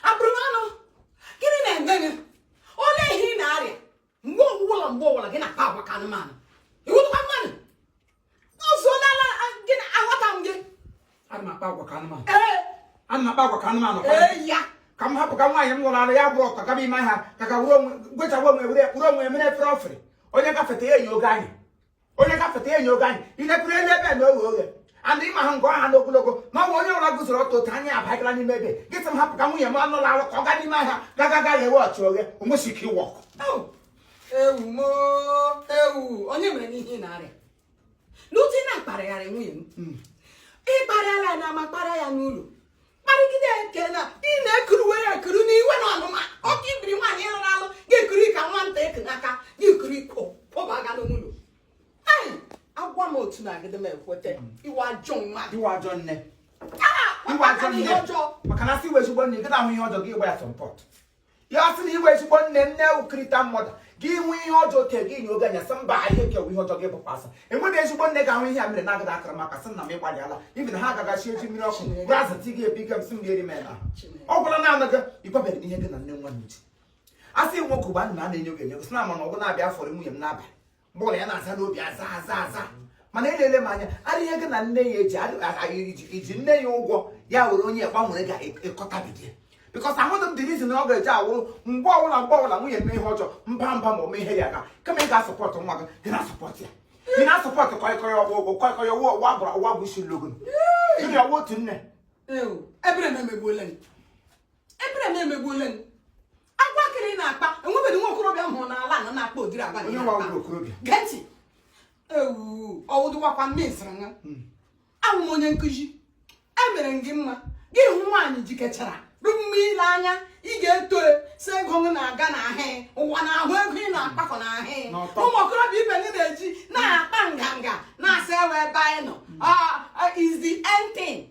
abụrụmanụ gịnị na-eme gị ole ihe ị na-arịa mgbe ọwụla mgbe ọwụla gị na-akpa agwa ka anụmanụ ị wụdụkwa mmadụ o zuolala gị na aghọta m gị ana m akpa agwa ka anụmanụ ee ana m akpa agwa ka anụmanụ kwa ee ya ka m hapụ ka nwaanyị m lụrụ alụ ya bụrụ ọtọ gaba ime ahịa ka ka were onwe gwechagwa onwe were were onwe mere efere ọfere onye gafeta ya eyi oge anyị onye gafeta enyi oge anyị ilekwuru elu ebe na oghe oghe and ịma ha nke ọha n'ogologo na ọ bụ onye ọbụla guzoro ọtọ otu anya abagala n'ime ebe gị sị m hapụ ka nwunye m lụrụ alụ ka ọ gaa n'ime ahịa gaga ga ghewe ọchị oghe onwesi ike ịwọ ọkụ ewu mo ewu onye mere n'ihe na-arịa n'uti na-akparịgharị nwunye m ị kparịala ya n'ama kparịa ya n'ụlọ kparịgide nke na ị na-ekuru were ekuru n'iwe na ọnụma oke ibiri nwaanyị lụrụ alụ ga-ekuru ka nwata eku n'aka ga-ekuru iko pụbaga n'ụlọ anyị agwa m otu na agadị m ekweta ị wụ ajọ mmadụ ị wụ ajọ nne ị wụ ajọ nne maka na a sị ị wụ ezigbo nne gị na-ahụ ihe ọjọọ gị agba ya support ya sị na ị wụ ezigbo nne nne wụ Christian mother gị nwee ihe ọjọọ ke gị nye oge anya sị mba ihe ke a wụ ihe ọjọọ gị bụ kpasa enweghị ezigbo nne ga-ahụ ihe a mere na-agaghị akụrụ m aka sị nwa m ị gbalịala even na ha agagachi eji mmiri ọkụ grazị ti gị ebi ike m sị m ga-eri mena ọ gwụla na anaghị ị gwabeghị m ihe gị na nne nwa nji a sị nwoke ụgba nna a na-enye oge enye sị na mana ọgụ na-abịa afọrọ nwunye m n'abalị bọọlụ ya na-aza n'obi aza aza aza mana elele m anya ara ihe gị na nne ya eji i ji nne ya ụgwọ ya were onye gbanwere ga ịkọtabiga because ahụdụ m the reason ọ ga-eji awụrụ mgbe ọbụla mgbe ọbụla nwunye eme ihe ọjọọ mba mba ma o me ihe ya ga kama ị ga-asọpọtụ nwa gị gị na-asọpọtụ ya gị na-asọpọtụ kọịkọrọ ọ wụ ụgwọ kọịkọrọ ọ wụ ọ wụ agbụrụ ọ wụ agbụ isi logo gị ọ wụ otu nne ebere m emegbuola m ebere m emegbuola m agwa akịrị na-akpa enwebeghị nwa okorobịa m hụrụ n'ala anọ na-akpa ụdịrị agwa na Onye ihe nwa akpa. bụ okorobịa? Gee ntị ewu ọwụdụwakwa mmesịrị nwa Mm. awụ m onye nkụzi emere m gị mma gị hụ nwaanyị jikechara rụ mma i le anya ị ga-eto sị ego gị na-aga n'ahụ ya, ụwa na-ahụ ego ị na-akpakọ n'ahụ ya. N'ọtọ. ụmụ okorobịa ibe gị na-eji na-akpa nganga na-asa ewe ebe anyị nọ Ah, ah, is the in thing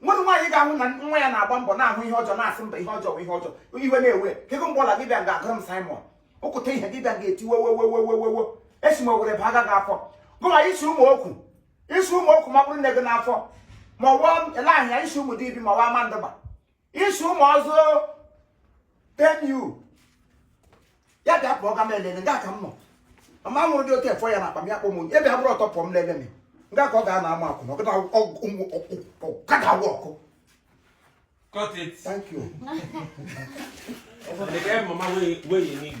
nwere nwaanyị ga-ahụ na nwa ya na-agba mbọ na-ahụ ihe ọjọọ na-asị mba ihe ọjọọ ihe ọjọọ iwe na-ewe kego mgbe ọbụla gị bịa ga-agụrụ m sermon m kwuta ihe gị bịa ga-eti wewewewewewewe esi m owere baga gị afọ gụwa i si Ụmụokwu i si Ụmụokwu ma bụrụ nne gị n'afọ ma ọ wụ ele ahịa i si Ụmụdibi ma ọ wụ Amandụgba i si Ụmụọzụ teniu ya bịa pụọ ga m elele nga ka m nọ mama nwụrụ dị otu efọ ya n'akpa m ya kpọ m onye bịa bụrụ ọtọ pụọ m lele m nga ka ọ ga-ana ama akwụ na ọ ga-agwụ ọkụ Cut it. thank you They gave mama where, where you need.